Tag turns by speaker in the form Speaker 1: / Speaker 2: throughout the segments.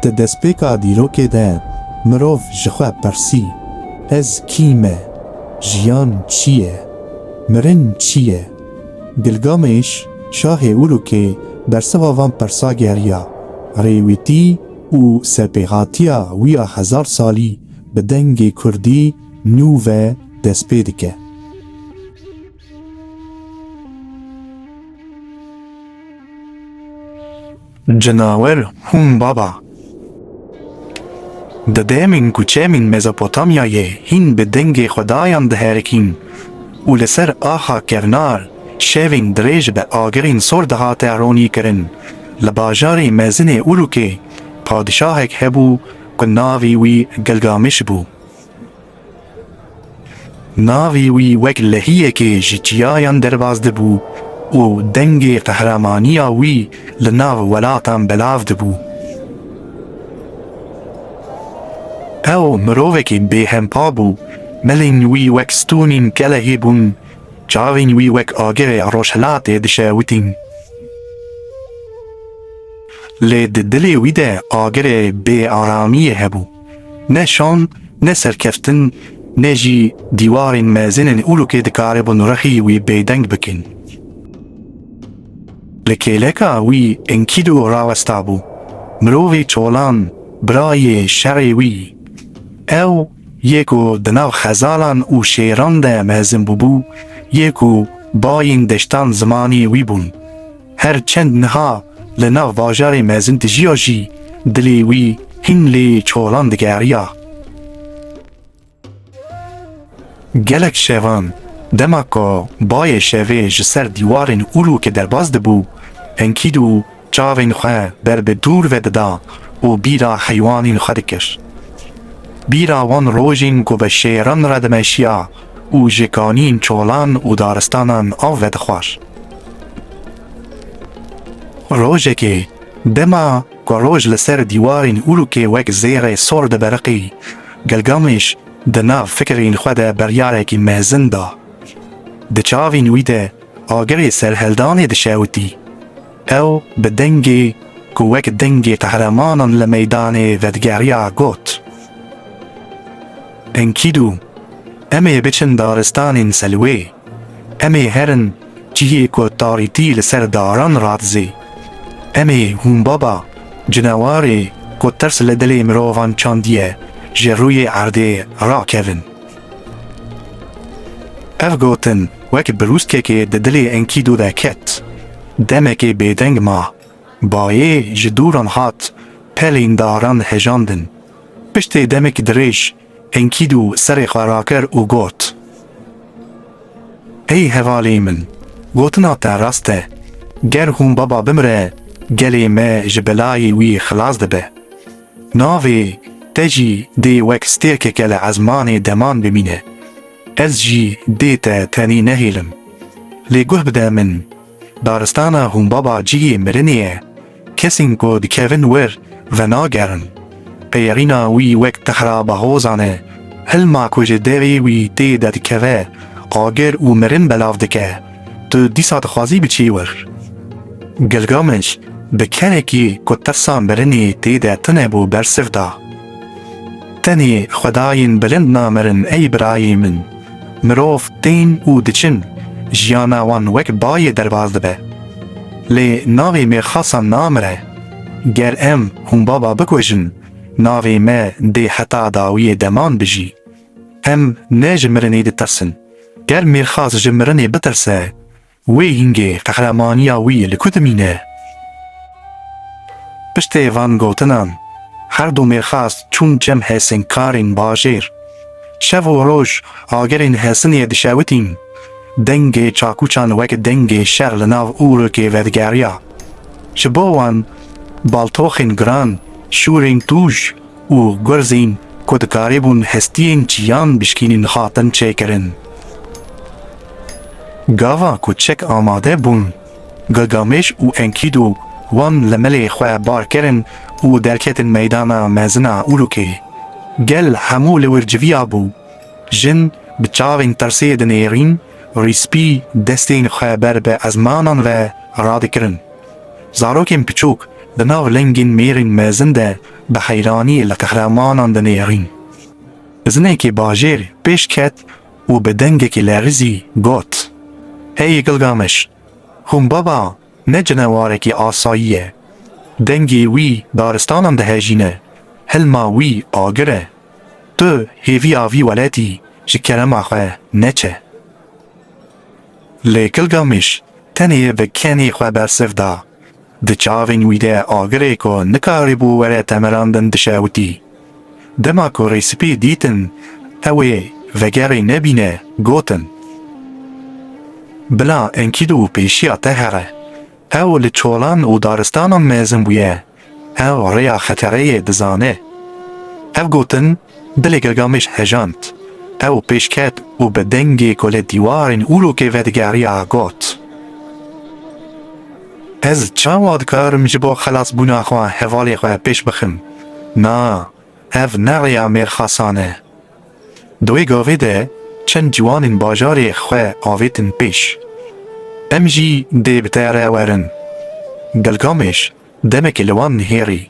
Speaker 1: Di destpêka dîrokê de mirov ji xwe pirsî, Ez kî me? Jiyan çi ye? Mirin çi ye? Gilgamêş, şahê Urûkê bersiva van pirsa geriya, rêwîtî û serpêhatiya wî ya hezar salî bi dengê kurdî nû ve destpê dike. Cenawer hûn baba. Di demên ku çemên Mezopotamyayê hîn bi dengê xwedayan diherikîn û li ser axa kevnar şevên dirêj bi agirên sor dihate ronîkirin, li bajarê mezin ê Urûkê padişahek hebû ku navê wî Gilgamiş bû. Navê wî wek lehiyekê ji çiyayan derbas dibû û dengê qehramaniya wî li nav welatan belav dibû. Ew mirovekî bêhempa bû, melên wî wek stûnên kelehê bûn, çavên wî wek agirê rojhilatê dişewitîn. Lê di dilê wî de agirê bêaramiyê hebû. Ne şan, ne serkeftin, ne jî dîwarên mezin ên Ulûkê dikaribûn rexî wî bêdeng bikin. Li kêleka wî Enkîdu rawestabû, mirovê çolan, birayê şerê wî. Ew yê ku di nav xezalan û şêran de mezin bûbû, yê ku bayên deştan zimanê wî bûn. Her çend niha li nav bajarê mezin dijiya jî dilê wî hîn lê çolan digeriya. Gelek şevan dema ku bayê şevê ji ser dîwarên Urûkê derbas dibû, hinkîd û çavên xwe ber bi dûr ve dida û bîra heywanên xwe dikir. Bîra wan rojên ku bi şêran re dimeşiya û ji kanîn, çolan û daristanan av vedixwar. Rojekê, dema ku roj li ser dîwarên Urûkê wek zêrê sor dibiriqî, Gilgameş di nav fikirên xwe de biryarekî mezin da. Di çavên wî de agirê serhildanê dişewitî. Ew bi dengê ku wek dengê qehremanan li meydanê vedigeriya got, Enkîdû, em ê biçin daristanên selwê, em ê herin cihê ku tarîtî li ser daran radizê, em ê hûnbaba cinewarê ku tirs li dilê mirovan çandiye ji rûyê erdê rakevin. Ev gotin wek birûskekê di dilê Enkîdû de ket. Demekê bêdeng ma. Bayê ji dûran hat pelên daran hejandin. Piştê demekî dirêj Enkîdû serê xwe rakir û got, Ey hevalên min, gotina te rast e. Ger hûn baba bimire, gelê me ji belayê wî xilas dibe. Navê te jî dê wek stêrkeke li ezmanê deman bimîne. Ez jî dê te tenê nehêlim. Lê guh bide min, daristana Hûnbaba cihê mirinê ye, kesên ku dikevin wir venagerin. Qeyerîna wî wek tehra bahozan e, hilma ku ji derê wî tê de dikeve, agir û mirin belav dike. Tu dîsa dixwazî biçî wir. Gilgameş bi kerekî ku tirsa mirinê tê de tune bû bersiv da, Tenê xwedayên bilind namirin ey birayê min. Mirov tên û diçin, jiyana wan wek bayê derbas dibe. Lê navê mêrxasan namire. Ger em hûnbaba bikujin, navê me dê heta dawiyê deman bijî. Em ne ji mirinê ditirsin. Ger Mîrxas ji mirinê bitirse, wê hingê qehremaniya wî li ku dimîne? Piştê van gotinan, her du Mîrxas çûn cem Hêsingkarên bajêr. Şev û roj agerên Hêsinê dişewitîn. Dengê çakûçan wek dengê şer li nav ûrikê vedigeriya. Ji bo wan baltoxên giran, şûrên tûj, û gurzên ku dikarîbûn hestiyên çiyan bişkînin hatin çêkirin. Gava ku çek amade bûn, Gilgameş û Enkidu wan li milê xwe bar kirin û derketin meydana mezina Urukê. Gel hemû li wir civiya bû. Jin bi çavên tirsê dinêrîn, rîspî destên xwe ber bi ezmanan ve radikirin. Zarokên piçûk di nav lengên mêrên mezin de bi heyraniyê li qehremanan dinêrîn. Zinikê bajêr pêş ket û bi dengekî lerizî got, Hey Gilgameş, Humbaba ne cinewarekî asayî ye. Dengê wî daristanan dihejîne, hilma wî agir e. Tu hêviya vî weletî ji kerema xwe neçe. Lê Gilgameş tenê bi kenê xwe bersiv da. Di çavên wî de agirê ku nikarîbû were temirandin dişewitî. Dema ku Rê Spî dîtin ew ê vegerê nebîne gotin, Bila Enkîdû pêşiya te here. Ew li çolan û daristanan mezin bûye, ew rêya xetereyê dizane. Ev gotin dilê Gilgameş hejand. Ew pêş ket û bi dengê ku li dîwarên Urûkê vedigeriya got. Ez çawa dikarim ji bo xelasbûna xwe hevalê xwe pêş bixim? Na, ev ne rêya mêrxasan e. Di wê gavê de çend ciwanên bajarê xwe avêtin pêş. Em jî dê bi te re werin. Gilgameş demekê li wan nihêrî,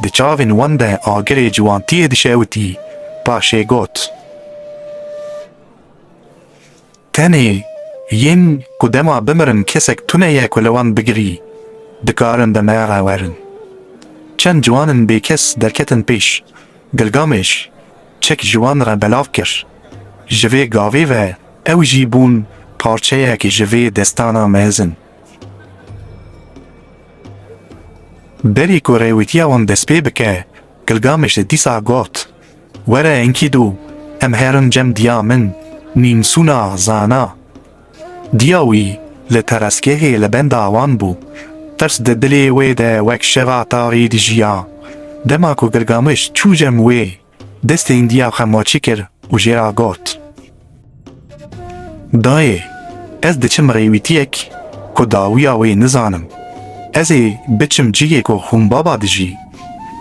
Speaker 1: di çavên wan de agirê ciwantiyê dişewitî, paşê got, Tenê yên ku dema bimirin kesek tune ye ku li wan bigirî, dikarin bi me re werin. Çend ciwanin bêkes derketin pêş. Gilgamêş çek ji wan re belav kir. Ji vê gavê ve ew jî bûn parçeyek ji vê destana mezin. Berî ku rêwîtiya wan destpê bike, Gilgamêş dîsa got, Were Enkidu em herin cem diya min nîmsûna zana. Diya wî li teresgehê li benda wan bû. Tirs di dilê wê de wek şeva taxî dijiya. Dema ku Gilgamiş çû cem wê, destên diya xwe maçî kir û jê re got. Dayê, ez diçim rêwîtiyek ku dawiya wê nizanim. Ez ê biçim cihê ku hûn baba dijî.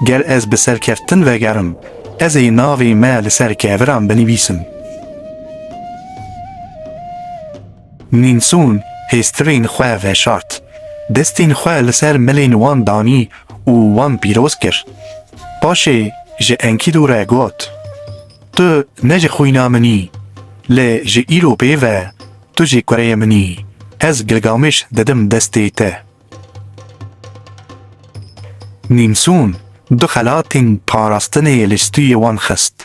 Speaker 1: Ger ez bi serkeftin vegerim, ez ê navê me li ser keviran binivîsim. Nînsûn hêstirên xwe veşart, destên xwe li ser milên wan danî û wan pîroz kir. Paşê ji Enkîdû re got. Tu ne ji xwîna min î, lê ji îro pê ve tu jî kureyê min î, ez Gilgameş didim destê te. Nîmsûn du xelatên parastinê li stûyê wan xist.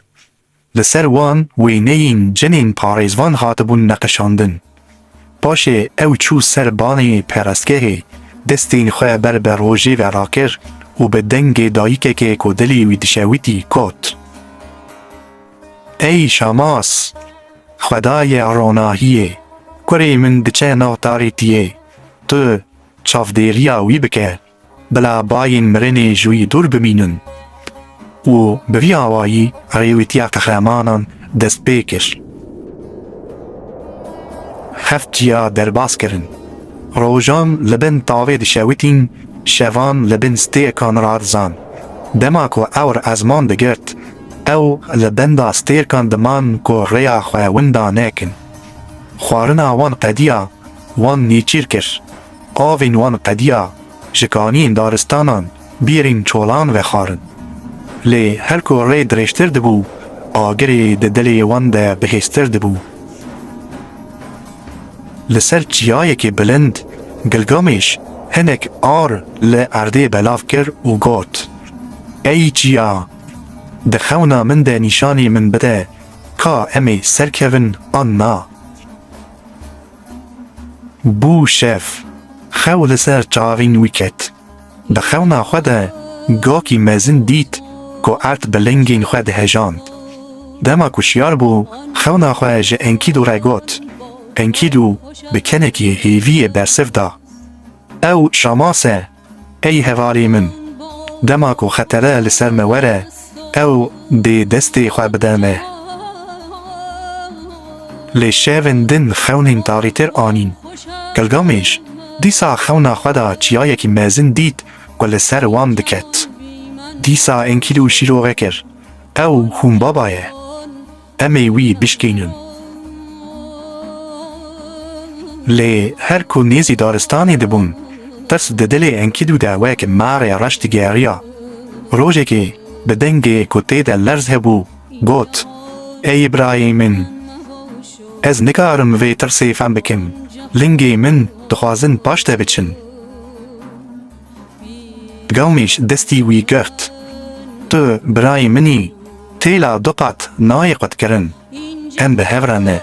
Speaker 1: Li ser wan wêneyên cinên parêzvan hatibûn neqişandin. Paşê ew çû ser banê perestgehê, destên xwe ber bi rojê ve rakir û bi dengê dayikekê ku dilê wî dişewitî got, Ey Şamas, xwedayê ronahiyê, kurê min diçe nav tarêtiyê, tu çavdêriya wî bike. Bila bayên mirinê ji wî dûr bimînin û bi vî awayî rêwîtiya qehremanan dest pê kir. Heft ciya derbas kirin. Rojan li bin tavê dişewitîn, şevan li bin stêrkan radizan. Dema ku ewr ezman digirt, ew li benda stêrkan diman ku rêya xwe winda nekin. Xwarina wan qediya wan nêçîr kir. Avên wan qediya ji kaniyên daristanan bîrîn çolan vexwarin. Lê her ku rê dirêjtir dibû, agirê di dilê wan de bihêztir dibû. Li ser çiyayekî bilind Gilgamêş hinek ar li erdê belav kir û got, Ey çiya, di xewna min de nîşanî min bide ka em ê serkevin an na. Bû şev. Xew li ser çavên wî ket. Di xewna xwe de gakî mezin dît ku erd bi lingên xwe dihejand. Dema ku şiyar bû, xewna xwe ji Enkîdû re got. Enkîdû bi kenekî hêviyê bersiv da. Ew şamas e. Ey hevalî min! Dema ku xetere li ser me were, ew dê destê xwe bide me. Lê şevên din xewnên tarîtir anîn. Gilgamêş dîsa xewna xwe da çiyayekî mezin dît ku li ser wan diket. Dîsa enkîl û şîrove kir. Ew hûnbaba ye. Em ê wî bişkînin. Lê her ku nêzî daristanê dibûn, tirs di dilê Enkîdû de wek marê reş digeriya. Rojekê bi dengê ku tê de lerz hebû, got, Ey birayê min! Ez nikarim vê tirsê fem bikim. Lingê min dixwazin paşde biçin. Gawmêş destî wî girt, Tu birayê min î, têla du qat nayê qutkirin, em bi hev re ne,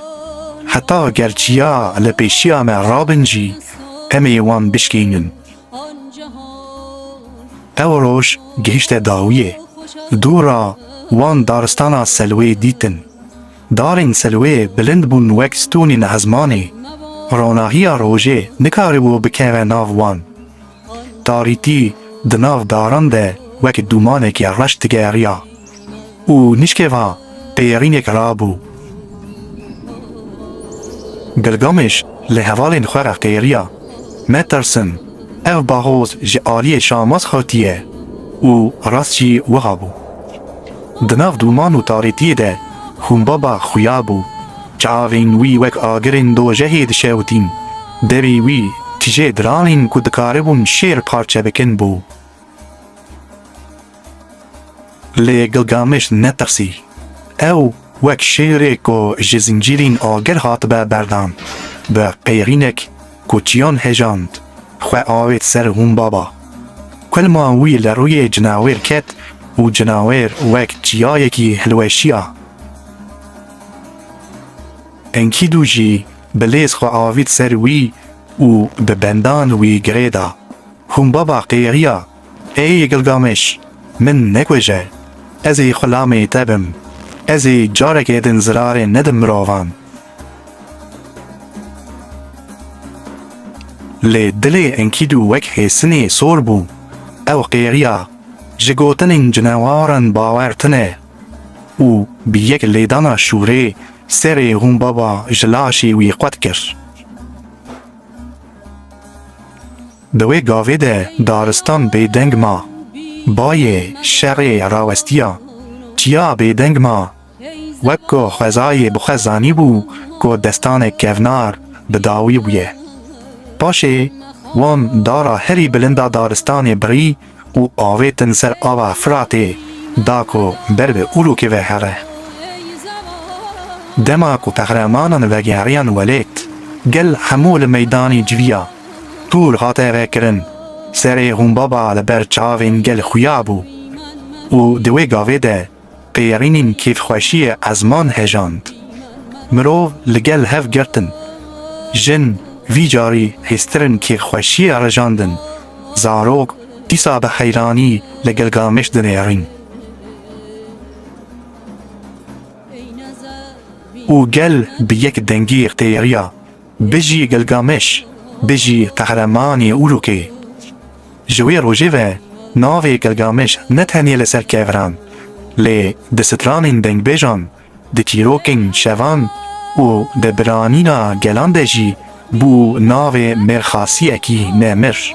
Speaker 1: heta ger çiya li pêşiya me rabin jî em ê wan bişkînin. Ew roj gihişte dawiyê, dû ra wan daristana Selwê dîtin. Darên Silwê bilind bûn wek stûnên ezmanê, ronahiya rojê nikaribû bikeve nav wan. Tarîtî di nav daran de wek dûmaneke reş digeriya û nişkeva pêrînek rabû. Gilgameş li hevalên xwe re qêriya, Me tirsin, ev bahoz ji aliyê Şamas hatiye û rast jî wiha bû. Di nav dûman û tarîtiyê de Xûnbaba xuya bû. Çavên wî wek agirên dojehê dişewitîn. Devî wî tije diranên ku dikaribûn şêr parçe bikin bû. Lê Gilgameş netirsî. Ew wek şêrê ku ji zincîrên agir hatibe berdan, bi qêrînek, Koçiyan hejand, xwe avêt ser Humbaba. Kulma wî li rûyê cinawêr ket û cinawêr wek çiyayekî hilweşiya. Enkîdû jî bi lêz xwe avît ser wî û bi bendan wî girê da. Humbaba qêxiya, Êy Gilgameş, min nekuje. Ez ê xulamê te bim. Ez ê careke din zirarê nedim mirovan. Lê dilê Enkîdû wek hêsinê sor bû. Ew qêriya ji gotinên cinewaran bawer tine û bi yek lêdana şûrê serê Hûnbaba ji laşê wî qwet kir. Di wê gavê de daristan bêdeng ma. Bayê şerê rawestiya. Çiya bêdeng ma Wek ku xwezayê bi xwe zanîbû ku destanek kevnar bi dawî bûye. Paşê wan dara herî bilind a daristanê birî û avêtin ser ava Firatê da ku ber bi Urûkê ve here. Dema ku qehremanan vegeriyan welêt, gel hemû li meydanê civiya Tûr hate vekirin, serê Hûnbaba li ber çavên gel xuya bû û di wê gavê de, Pêyerînên kêfxweşiyê ezman hejand. Mirov li gel hev girtin. Jin vî carî hêztirin kêfxweşiyê rijandin. Zarok dîsa bi heyranî li Gilgameş dinêrîn. Û gel bi yek dengî qêriya. Bijî Gilgameş, bijî qehremanê Urûkê. Ji wê rojê ve navê Gilgameş ne tenê li ser keviran, lê di stranên dengbêjan, di çîrokên şevan û di biranîna gelan de jî bû navê mêrxasiyekî nemir.